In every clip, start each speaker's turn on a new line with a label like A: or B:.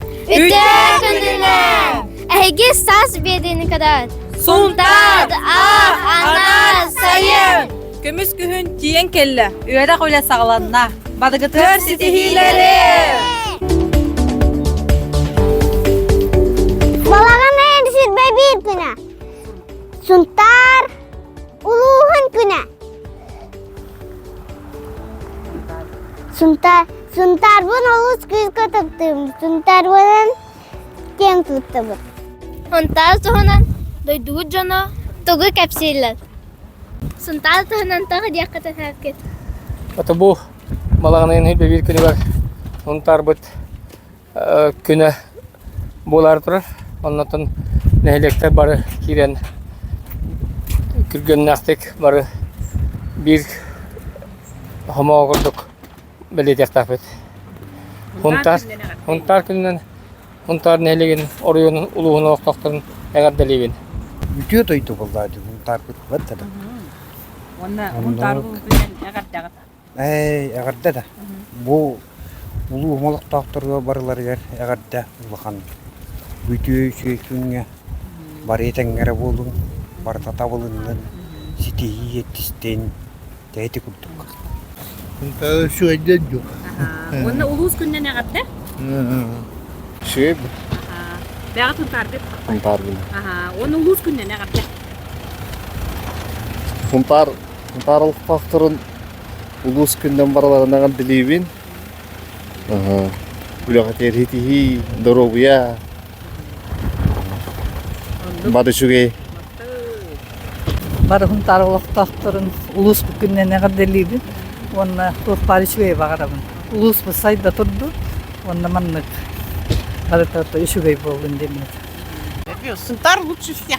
A: Үтээ күнүнэн! Эһиги саас биэдинкадар! Сунтаад, аах, анаар, сайын! Көмүс күһүн
B: тиийэн кэллэ. Үөрэх үлэ саҕаланна. Бадыгытыгар ситиһиилэри!
A: Балаҕан эн сирбэ бииртинэ! Сунтаар Улууһун күнэ. Сунтаар Сунтаарбын олус кыыска таптыыбын. Сунтаарбынан киэн туттабыт. Сунтаар туһунан дойдубут дьоно тугу кэпсииллэр? Сунтаар туһунан тоҕо диэххэ тахаркыт? Ото бу
C: балаҕаныын ирбэбиир күнүгэр Сунтаарбыт күнэ буолаары турар. Оннотон нэһилиэктэр бары киирэн күргүөмнээхтик бары биир хомоҕо курдук бэлиэтиэхтээхпит. Хунтаар, Хунтаар күнүнэн Хунтаар нэһилиэгин оройуонун улууһун олохтоохторун эҕэрдэлиибин. Үтүө дойду
D: буоллаа дии Хунтаар куттабыт да. Уонна
B: Хунтаар күнүнэн эҕэрдэҕит. Ээ, эҕэрдэ
D: да. Бу улуу омол олохтоохторго барыларыгар эҕэрдэ улахан. Бүтүө үчүгэй күҥҥэ бары этэҥҥэрэ буолуҥ, барыта табылыннын, ситиһии эттистин, тэйэтик курдук.
E: Үчүгэйдик дуу? Уонна улуус
B: күнүнэн эҕэрдэ.
C: Сиэбин.
B: Бэҕи Сунтааргыт. Сунтаарбын.
C: Уонна улуус
B: күнүнэн эҕэрдэ.
E: Сунтаар Баарылҕахтарын улуус күннэн барыларынан билиибин. Үлэҕэ тиэритиһии, доруобуйа бары үчүгэй.
F: Барыһын тар олохтоохторун улууспут күннэн эҕэрдэлиибин уонна туох баар үчүгэй баҕарабын. Улуусбут сайда турду уонна маннык барыта үчүгэй буоллун диэммит. Сынтар лучше
G: всех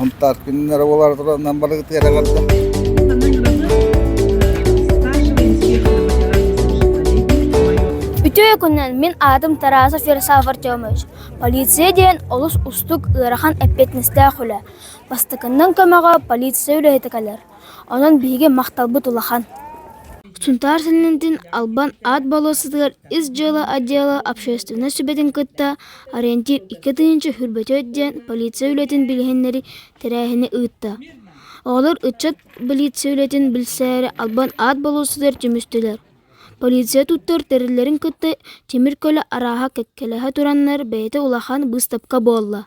E: Хунтааркиннар эрэ буолаатыларынан бары тыараҕарда.
A: Үтүө күнүнэн мин аатым Тарасов Ярослав Артемович. Полиция диэн олус устук ыарахан эппиэтинэстээх үлэ. Бастакыннан көмөҕө полиция үлэһитэ кэлэр. Онон биһиги махталбыт улахан. Сунтаар Сэннэтин Албан аат болуоссатыгар Ис дьыала отдела общественнай сүбэтин кытта Ориентир икки тыһыынча хүрбөтүөт диэн полиция үлэтин билиһиннэри тэрээһини ыытта. Оҕолор ыччат билиция үлэтин билсээри албан аат болуоссатыгар түмүстүлэр. Полиция туттар тэриллэрин кытта тимир көлө арааһа кэккэлэһэ тураннар бэйэтэ улахан быыстапка буолла.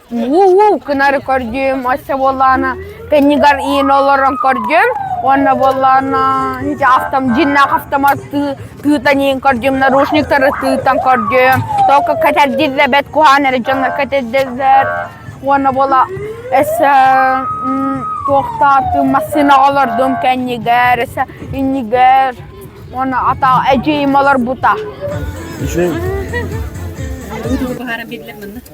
G: Уу-уу, кынары көрдүм, өссө буоллаана, кэннигэр иин олорон көрдүм, уонна буоллаана, ити автом, дьиннээх автоматтыы тыытаниин көрдүм, наручниктары тыытан көрдүм, только кэтэрдиллэр, бэт куһаан эрэ дьоннор кэтэрдиллэр, уонна буола, эссе, туохтаатым, массыына олордум кэннигэр, эссе иннигэр, уонна ата эдьиийим олорбута. Үчүн. Тугу тугу
E: быһааран
B: биллэр манна?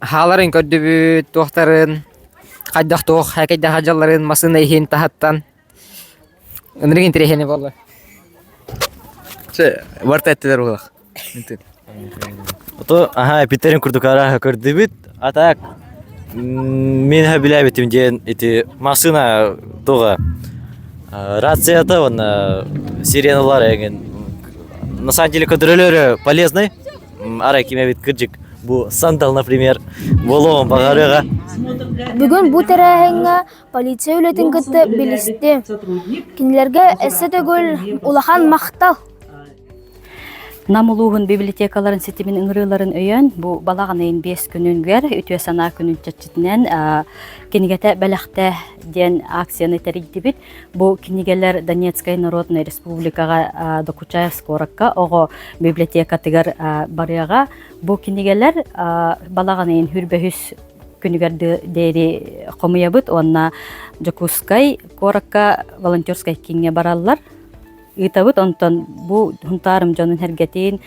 H: Хааларын көрдүбүт туохтарын, хайдах туох экэйдээх дьалларын массыына иһин таһыттан. Ынырык интэриэһинэй буолла. Чэ,
I: барыта эттилэр буолах. Ото аха эпиттерин курдук араха көрдүбүт. А так мен билебитим диэн эти массыына туга рацията он сиреналар эген на самом деле контролеры полезный арай кимэбит кырдьык бу сандал, например, буолуоҕун баҕарыаҕа. Бүгүн
A: бу тэрээһиҥҥэ полиция үлэтин кытта билисти. Кинилэргэ эссе төгүл улахан махтал. Нам
J: улууһун библиотекаларын ситимин ыҥырыыларын өйөн, бу балаҕанайын биэс күнүнгэр үтүө санаа күнүн чаччытынан кинигэтэ бэлэхтэ диэн акцияны тэрийдибит. Бу кинигэлэр Донецкай Народной Республикаҕа Докучаевск куоракка оҕо библиотекатыгар барыаҕа. Бу кинигэлэр балаҕанын хүрбэһүс күнүгэр диэри хомуйабыт уонна Дьокуускай куоракка волонтерскай кииҥҥэ бараллар. Ыытабыт, онтон бу хунтаарым дьонун сэргэтин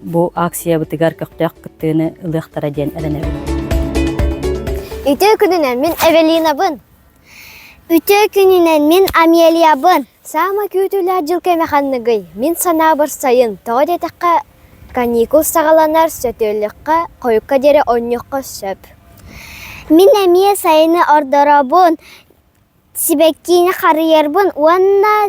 J: бу акциябытыгар көхтөөх кыттыыны ылыахтара диэн эрэнэбин. Ити
K: күнүнэн мин Эвелинабын. Үтүө күнүнэн мин Амелиябын! Саамай күүтүүлээх дьыл кэмэ ханныгый? Мин санаабар сайын, тоҕо диэтэххэ, каникул саҕаланар, сөтүөлүөххэ, хойукка диэри оонньуохха сөп. Мин эмиэ сайыны ордоробун, сибэккини харыйарбын уонна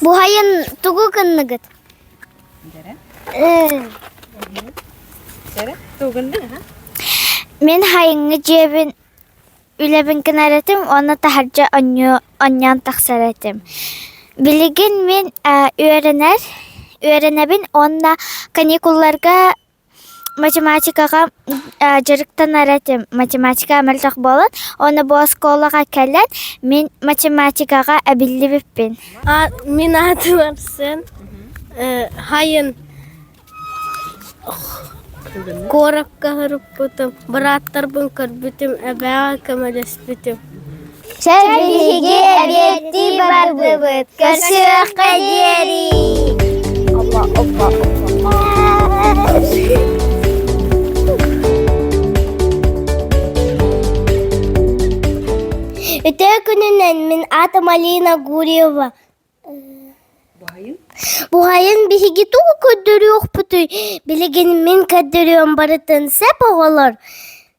A: Буһайын
K: тугу гынныгыт? Мин хайыҥҥы дьиэбин үлэбин гынар этим уонна таһырдьа онньоон тахсар этим. Билигин мин үөрэнэр үөрэнэбин уонна каникулларга математикаҕа дьарыктанар этим математика мөлтөх буолан уонна бу оскуолаҕа кэлэн мин математикаҕа эбиллибиппин мин
L: аатым epson хайын куоракка сырыппытым бырааттарбын көрбүтүм эбэҕэ көмөлөспүтүм Чэ
K: биһиги эбиэттии бардыбыт, көрсүөххэ диэри. Өтөө күнүнэн мин аата Малина Гурьева. Буһайын биһиги тугу көрдөрүөхпүтүй? Билигин мин көрдөрүөм барытын сеп оҕолор.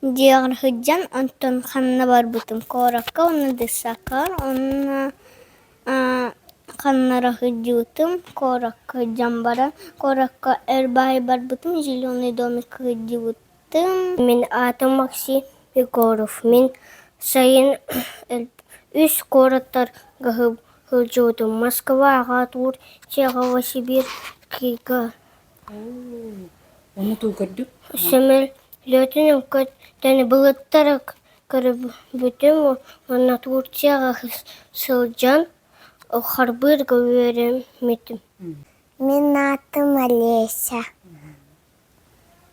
K: диэҕэр сылдьан онтон ханна барбытым куоракка уонна ДСАК-ҕа уонна ханнара сылдьыбытым куоракка дьон баран куоракка эр баай барбытым зеленый домик сылдьыбытым мин аатым максим егоров мин сайын үс куораттарга сылдьыбытым москва аҕа туур чехово сибирь кыга Летун Өккөт дэни былыттарык көрбүтүм уонна Турцияҕа сылдьан харбыырга үөрэммитим Мин аатым Олеся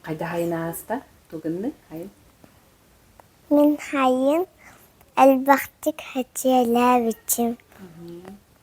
B: Хайдахайын
K: ааста
B: тугуннук хайын
K: Мин
B: хайын
L: элбэхтик эчээлээбитим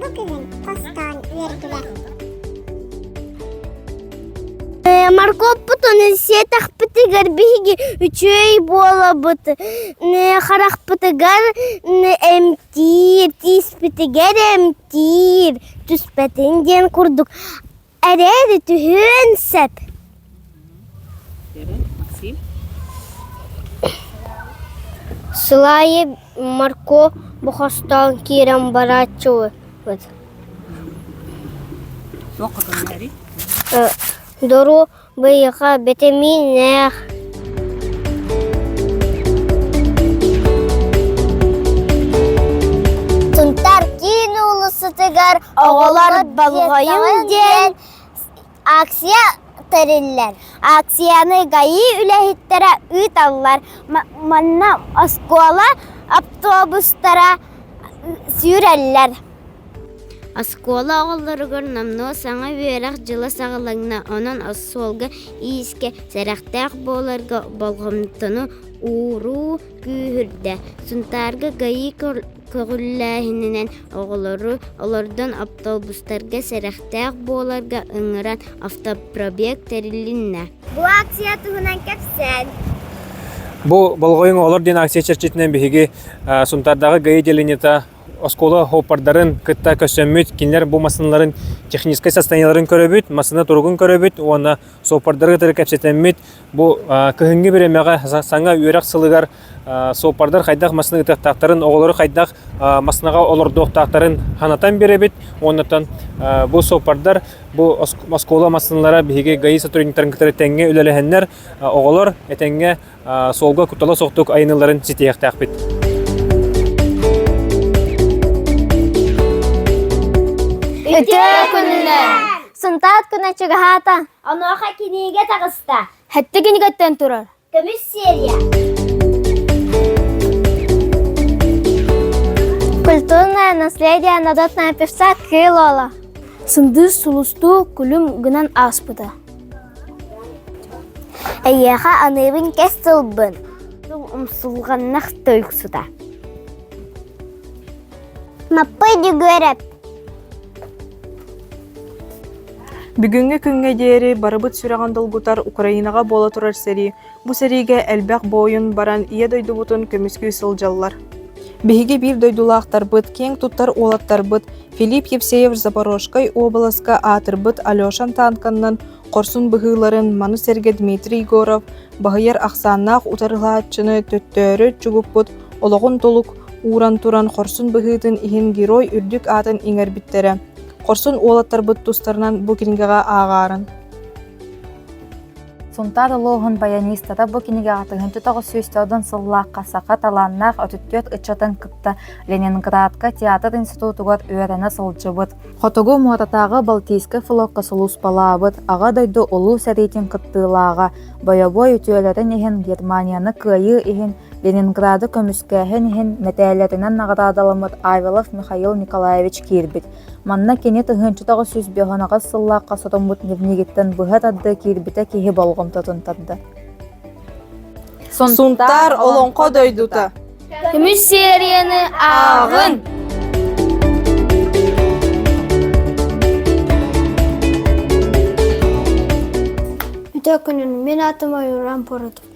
M: Бу кэлин
L: хостоон үөргүлэр. Моргуоппутун сиэтэхпитигэр биһиги үчүэй буолабыт. Харахпытыгар эмтиир, тииспитигэр эмтиир түспэтин диэн курдук Эрээри түһүөн сөп. Сыл аайы морку бохостоон киирэн барааччыбыт. Дору Быйылга битэмииннээх Сунтаар киин уулуссатыгар «Оҕолор болҕойуҥ» диэн акция тэриллэр. Акцияны ГАИ үлэһиттэрэ ыыталлар. Манна оскуола автобустара сүүрэллэр.
N: Оскуола оҕолоругар номнуо саҥа үөрэх дьыла саҕаланна, онон остуолга иискэ сэрэхтээх буоларга болҕомтону ууруу күүһүрдэ. Сунтаарга ГАИ көҕүлээһининэн оҕолору олордон автобустарга сэрэхтээх буоларга ыҥыран автопробег тэрилиннэ. Бу акция
L: туһунан кэпсээн.
C: Бу «Болҕойуҥ олор» диэн акция чэрчитинэн биһиги Сунтаардааҕы ГАИ делениета оскуола хоппардарын кытта көрсөммүт, кинилэр бу массыыналарын техническэй состояниеларын көрөбүт, массыына туругун көрөбүт уонна суоппардары кытары кэпсэтэммит. Бу кыһыҥҥы бириэмэҕэ саҥа үөрэх сылыгар суоппардар хайдах массыына ытыахтаахтарын, оҕолору хайдах массыынаҕа олордуохтаахтарын санатан биэрэбит. Уоннан бу суоппардар бу оскуола массыыналара биһиги ГАИ сотрудниктарын кытары тэҥҥэ үлэлэһэннэр, оҕолор этэҥҥэ суолга куттала суохтук айаныларын ситиһиэхтээхпит.
L: Үтөө күннэр! Сынтаат күнэ чугаһаата. Онуоха кинигэ таҕыста. Хэтте кинигаттан
A: турар. Көмүс серия.
L: Культурное наследие народная певца Кылола. Сындыс
A: сулусту күлүм гынан ааспыта.
L: Эйиэхэ аныыбын кэс сылбын умсулҕаннах тойуксута Маппый Дьөгүөрэп
O: Бүгүҥҥү күҥҥэ диэри барыбыт сүрэҕин долгутар Украинаҕа буола турар сэрии Бу сэриигэ элбэх буойун баран ийэ дойдубутун көмүскүү сылдьаллар. Биһиги биир дойдулаахтарбыт, киэҥ туттар уолаттарбыт Филипп Евсеев Запорожскай уобаласка аатырбыт Алеша Танканнан хорсун быһыыларын маны сэргэ Дмитрий Егоров баһыйар ахсааннаах утарылааччыны төттөөрү чугуппут олоҕун толук ууран туран хорсун быһыытын иһин герой үрдүк аатын иҥэрбиттэрэ. Хорсун уолаттарбыт тустарынан бу кинигэҕэ ааҕаарын.
P: Сунтаар улууһун баянистата бу кинигэҕэ тыһыынча тоҕус сүүс содон сыллаахха саха талааннаах отүттүөт ыччатын кытта Ленинградка театр институтугар үөрэнэ сылдьыбыт. Хотугу Муотатааҕы Балтийскай флокка сулууспалаабыт Аҕа дойду Улуу сэриитин кыттыылааҕа, бойобуой үтүөлэрин иһин Германияны кыайыы иһин Ленинграды көмүскээһин иһин мэтээллэринэн наҕараадаламмыт Айвелов Михаил Николаевич киирбит. Манна кини тыһыынча тоҕус сүүс биэһэнаҕас сыллаахха сотуммут ньимнигиттэн быһа тардыы киирбитэ киһи болҕомтотун тарда.
O: Сунтаар Олоҥхо дойдута Көмүс
A: серияны ааҕын! Бүтэ күнүн мен атым ойуран поротум.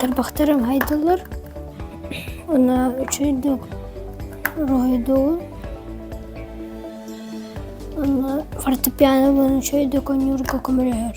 A: Тарбахтарым хайдаллар уонна үчүгэйдик уруһуйдуур уонна фортепианобын үчүгэйдик оонньуурга көмөлөһөр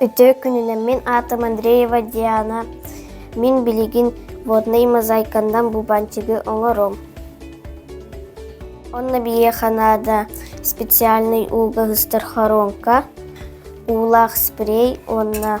L: Үтө күнүнэн мин аатым Андреева Диана. Мин билигин водный мозаикандан бубанчигы оңором. Онна бие Канада специальный ууга хыстар хоронка, уулаах спрей онна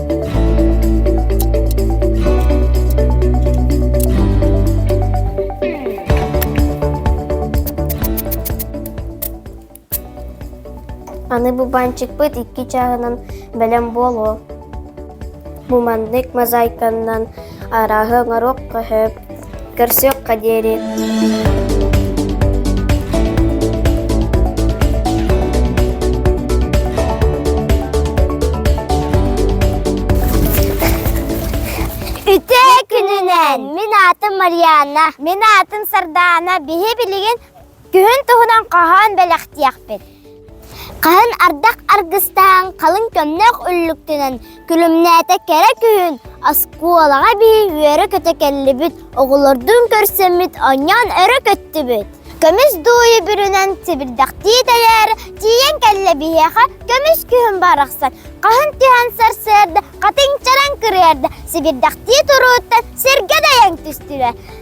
L: Аны бу банчыкпыт икки чааһынан бэлэм буолуо. Бу маннык мозаиканнан арааһы оҥоруох көһөп, Көрсүөххэ диэри Үтүө күнүнэн! Мин аатым Марианна. Мин аатым Сардаана. Биһи билигин Күһүн туһунан хоһоон бэлэхтиэхпит. Хаһан ардах аргыстаан, халыҥ көмнөх үллүктүнэн күлүмнээтэ кэрэ күһүн оскуолаҕа бии үөрэ-көтө кэллибит, оҕолордун көрсөммүт, онньоон өрө көттүбүт. Көмүс дууйу бүрүнэн сибирдэхтии тэлээрэ тиийэн кэллэ биһиэхэ көмүс күһүн барахсан хаһан түһэн сарсыарда хатыҥ чараҥ кырыарда сибирдэхтии турууттан сиргэ дайан түстүлэр.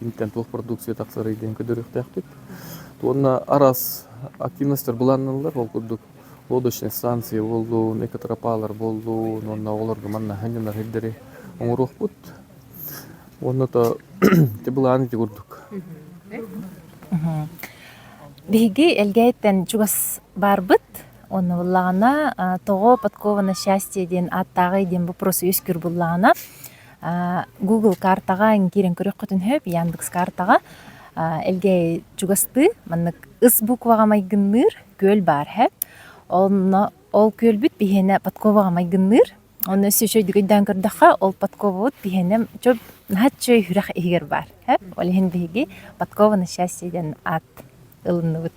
Q: киниттэн туох продукция тахсарый диэн көрдөрүөхтээхпит. Уонна араас активностьтар былаанналлар. Ол курдук лодочнай станции буоллун, экотропалар буоллун, уонна оҕолорго манна ханньанар хирдэри оҥоруохпут. Уонна то ити былааны ити курдук.
P: Биһиги Элгээйиттэн чугас барбыт. Онно буллаҕына тоҕо подкова на счастье диэн ааттааҕый диэн бу вопрос үөскүр буллаҕына Google картаҕа ин киирэн көрүөххүтүн сөп, Яндекс картаҕа элгээйи чугастыы маннык ыс букваҕа майгынныыр күөл баар эһэт. Онно ол күөлбүт биһиэнэ подковаҕа майгынныыр. Онно өссө үчүгэй дүгүйдээн көрдөххө, ол подковабыт биһиэнэ чөл наһаа үчүгэй үрэх иһигэр баар эһэт. Ол иһин биһиги Подкова на счастье диэн аат ылынныбыт.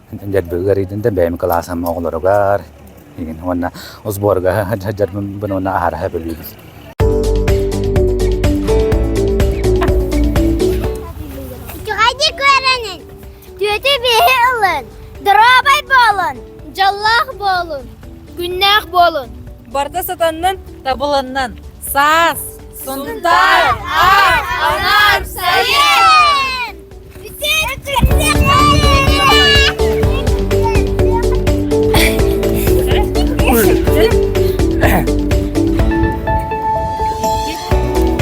R: дэрбеги арыйдын да бэйэм кылаасам оҕолоругар уонна сборга сылдьарбын уонна аһараһа бөлүүбүн
L: үчүгэйдик үөрэнин түөтү биһи ылын доруобай буолун дьоллоох буолун күннээх буолун барда сатаннын
B: табылыннын саас сунтаар аар анаар сайын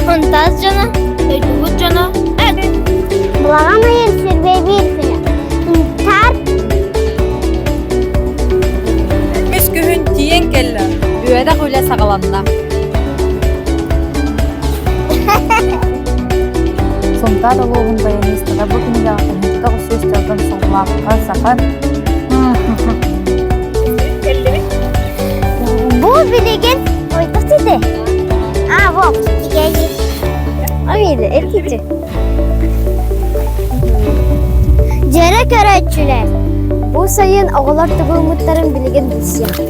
L: Хантас дьоно, өйдүгүт дьоно, эт! Благан айын сирбей биирсинэ. Интарт
F: Үс күһүн тиийэн кэллэ. Үөрэх үлэ саҕаланна.
P: Сунтаар улууһун баянистара бу күнүгэ омуктар усус дьылын соҥлаахха саха
L: Бу билигин ойпос ити. А, вот, тигели. Амина, эркичи. Жэрэ көрөччүлэр. Бу сайын оҕолор тыбылмыттарын билигин билсиэх.